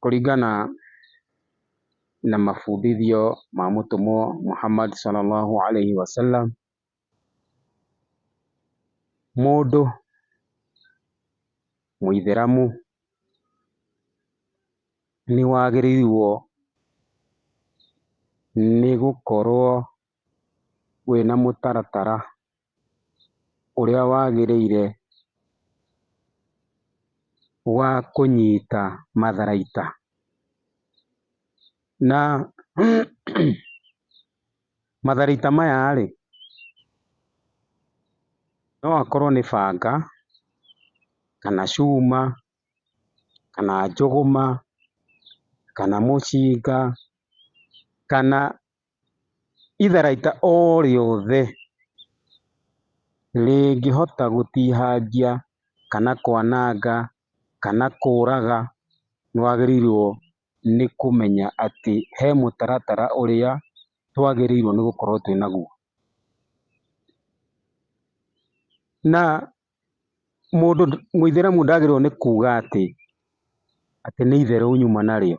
Kũringana na mabundithio ma mũtũmwo Muhammad swallallahu alaihi wasallam, mũndũ mũithĩramu nĩwagĩrĩirwo nĩgũkorwo. wĩna mũtaratara ũrĩa wagĩrĩire wa kũnyita matharaita. Na matharaita maya-rĩ, no akorwo nĩ banga, kana cuma, kana njũgũma, kana mũcinga, kana Itharaita o rĩothe rĩngĩhota gũtihangia kana kwananga kana kũraga nĩ wagĩrĩirwo nĩ kũmenya atĩ he mũtaratara ũrĩa twagĩrĩirwo nĩ gũkorwo twĩ naguo. Na mũndũ mũithĩramu ndagĩrĩirwo nĩ kuga atĩ, atĩ nĩ itherũ nyuma narĩo.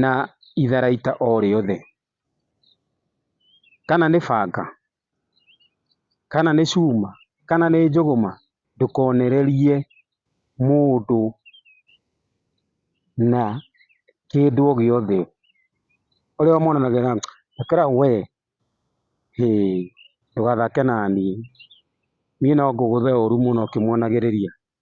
na itharaita o rĩothe, kana nĩ banga, kana nĩ cuma, kana nĩ njũgũma, ndũkonererie mũndũ na kĩndũ o gĩothe, ũrĩa ũmonanagia na ĩkĩra we, hĩ ndũgathake naniĩ, niĩ no ngũgũthe ũru mũno ũkĩmonagĩrĩria.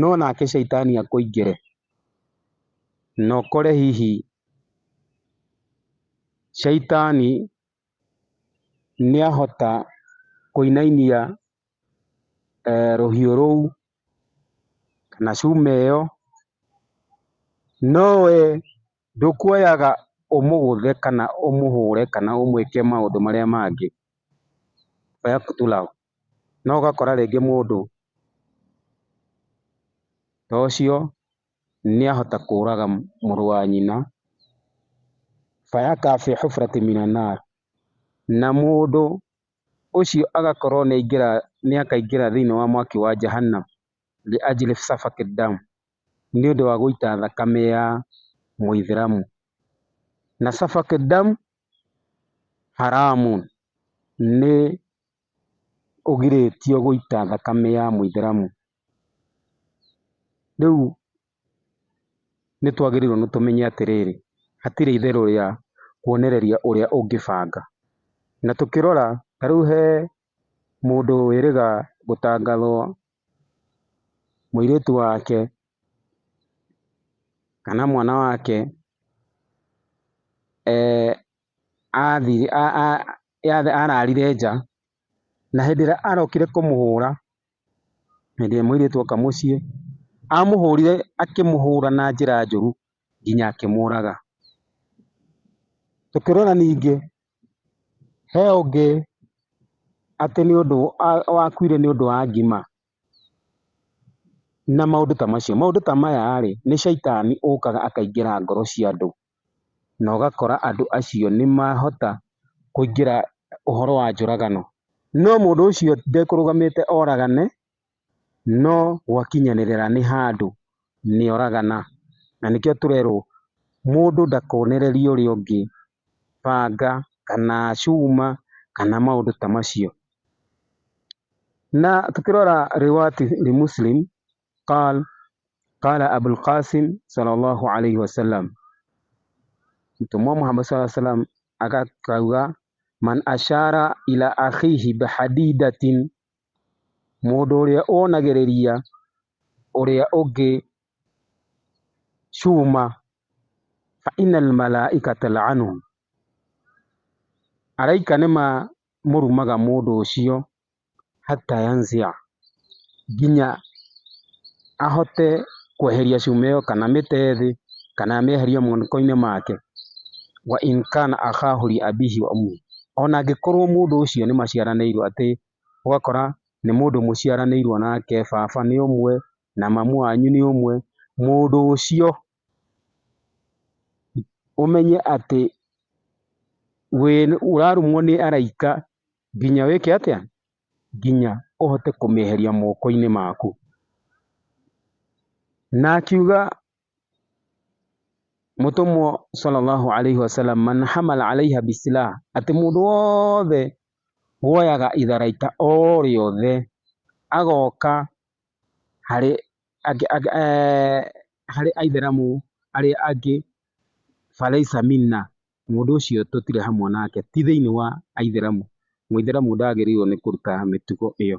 No nake caitani akũingĩre, na ũkore hihi caitani nĩahota kũinainia rũhiũ rũu, kana cuma ĩyo, no wee Ndũkuoyaga ũmũgũthe kana ũmũhũre kana ũmwĩke maũndũ marĩa mangĩ, oya tu love. No ũgakora rĩngĩ mũndũ ta ũcio nĩ ahota kũraga mũrũ wa nyina, fayakaa fii hufratin mina naar, na mũndũ ũcio agakorwo nĩ aingĩra thĩinĩ wa mwaki wa Jahannam, liajli safaki dam. nĩ ũndũ wa gũita thakame ya mũithĩramu. Na safak dam haramun nĩ ũgirĩtio gũita thakame ya mũithĩramu. Rĩu nĩ twagĩrĩirwo nĩ tũmenye atĩrĩrĩ, hatirĩ itherũ rĩa kuonereria ũrĩa ũngĩbanga. Na tũkĩrora ta rĩu he mũndũ wĩrĩga gũtangathwo mũirĩtu wake kana mwana wake ararire nja na hĩndĩ ĩrĩa arokire kũmũhũra, hĩndĩ ĩrĩa mũirĩtu oka mũciĩ, amũhũrire akĩmũhũra na njĩra njũru nginya akĩmũraga. Tũkĩrora ningĩ He ũngĩ atĩ nĩ ũndũ wakuire nĩ ũndũ wa ngima, na maũndũ ta macio. Maũndũ ta maya rĩ, nĩ caitani ũkaga akaingĩra ngoro cia andũ, na ũgakora andũ acio nĩ mahota kũingĩra ũhoro wa njũragano. No mũndũ ũcio ndekũrũgamĩte oragane, no gwakinyanĩrĩra nĩ handũ nĩoragana. Na nĩkĩo tũrerwo mũndũ ndakonererie ũrĩa ũngĩ banga kana cuma kana maũndũ ta macio. Na tũkĩrora Riwayat Muslim, Qal Qala Abul Qasim Swallallahu Alaihi Wasallam, Mũtũmwo Muhammad Swalla Sallam akauga, Man ashara ila akhihi bihadidatin Mũndũ ũrĩa wonagĩrĩria ũrĩa ũngĩ cuma, fa inna al-malaikata la'anu, araika nĩmamũrumaga mũndũ ũcio hatta yanzi'a, nginya ahote kweheria cuma ĩyo kana amĩte thĩ, kana amĩeherie moko-inĩ make, wa in kana akhahu li abihi wa ummihi, ona angĩkorwo mũndũ ũcio nĩmaciaranĩirwo atĩ ũgakora nĩ mũndũ mũciaranĩirwo nake, baba nĩ ũmwe, na mamu wanyu nĩ ũmwe, mũndũ ũcio ũmenye atĩ ũrarumwo nĩ araika nginya wĩke atĩa? Nginya ũhote kũmĩeheria moko-inĩ maku. Na akiuga Mũtũmwo sallallahu alaihi wasallam man hamal alaiha bisilah, atĩ mũndũ wothe woyaga itharaita o rĩothe agoka harĩ harĩ aithĩramu arĩa angĩ falaisa minna, mũndũ ũcio tũtirĩ hamwe nake, ti thĩiniĩ wa aithĩramu. Mũithĩramu ndagĩrĩirwo nĩ kũruta mĩtugo ĩyo.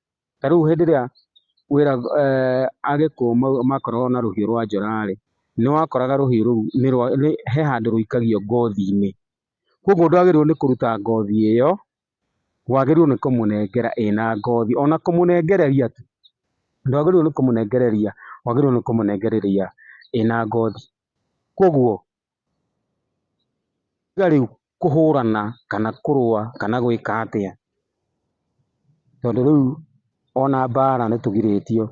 Ta rĩu hĩndĩ ĩrĩa wĩra eeh Agĩkũyũ makoragwo na rũhiũ rwa njora rĩ, nĩ wakoraga rũhiũ rũu nĩ rwa nĩ he handũ rũikagio ngothi-inĩ. Kũguo ndwagĩrĩirwo nĩ kũruta ngothi ĩyo, wagĩrĩirwo nĩ kũmũnengera ĩna ngothi. Ona kũmũnengereria tu, ndwagĩrĩirwo nĩ kũmũnengereria, wagĩrĩirwo nĩ kũmũnengereria ĩna ngothi. Kũguo Tiga rĩu kũhũrana kana kũrũa kana gwĩka atĩa, tondũ rĩu ona mbara nĩ tũgirĩtio,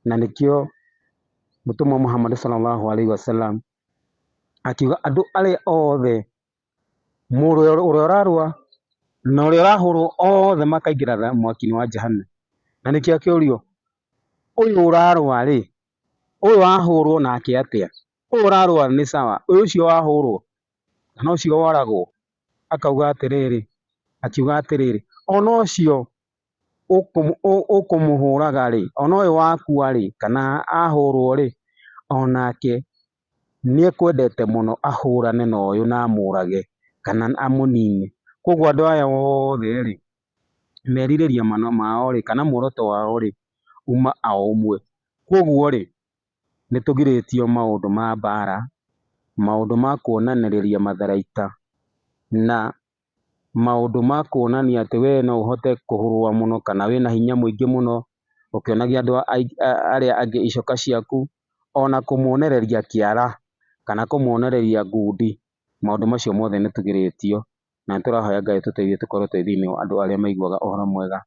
na nĩkĩo mũtũmwo Muhammad Sallallahu Alaihi Wasallam akiuga andũ arĩa othe, mũndũ ũrĩa ũrarũa na ũrĩa ũrahũrũo othe makaingĩra mwaki-inĩ wa Jahannam. Na nĩkĩo akĩũrio, ũyũ ũrarũa rĩ, ũyũ wahũrũo nake atĩa? ũyũ ũrarũa nĩ sawa, ũyũ ũcio wahũrwo kana ũcio woragwo akauga atĩrĩrĩ, akiuga atĩrĩrĩ, ona ũcio ũkũmũhũraga rĩ, ona ũyũ wakua rĩ, kana ahũrwo rĩ, onake nĩ ekwendete mũno ahũrane na ũyũ na amũrage kana amũnine. Koguo andũ aya othe rĩ, merirĩria mao rĩ, kana muoroto wao rĩ, uma o ũmwe. Koguo rĩ, nĩ tũgirĩtio maũndũ ma mbaara, maũndũ ma kuonanĩrĩria matharaita, na maũndũ ma kuonania atĩ we no ũhote kũrũa mũno kana wĩ na hinya mũingĩ mũno, ũkĩonagia andũ arĩa angĩ icoka ciaku, o na kũmonereria kĩara, kana kũmonereria ngundi. Maũndũ macio mothe nĩ tũgirĩtio, na nĩ tũrahoya Ngai atũteithie tũkorwo twĩ thĩinĩ wa andũ arĩa maiguaga ũhoro mwega,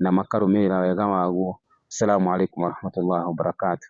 na makarũmĩrĩra wega waguo. Salamu Alaikum Warahmatullahi Wabarakatuh.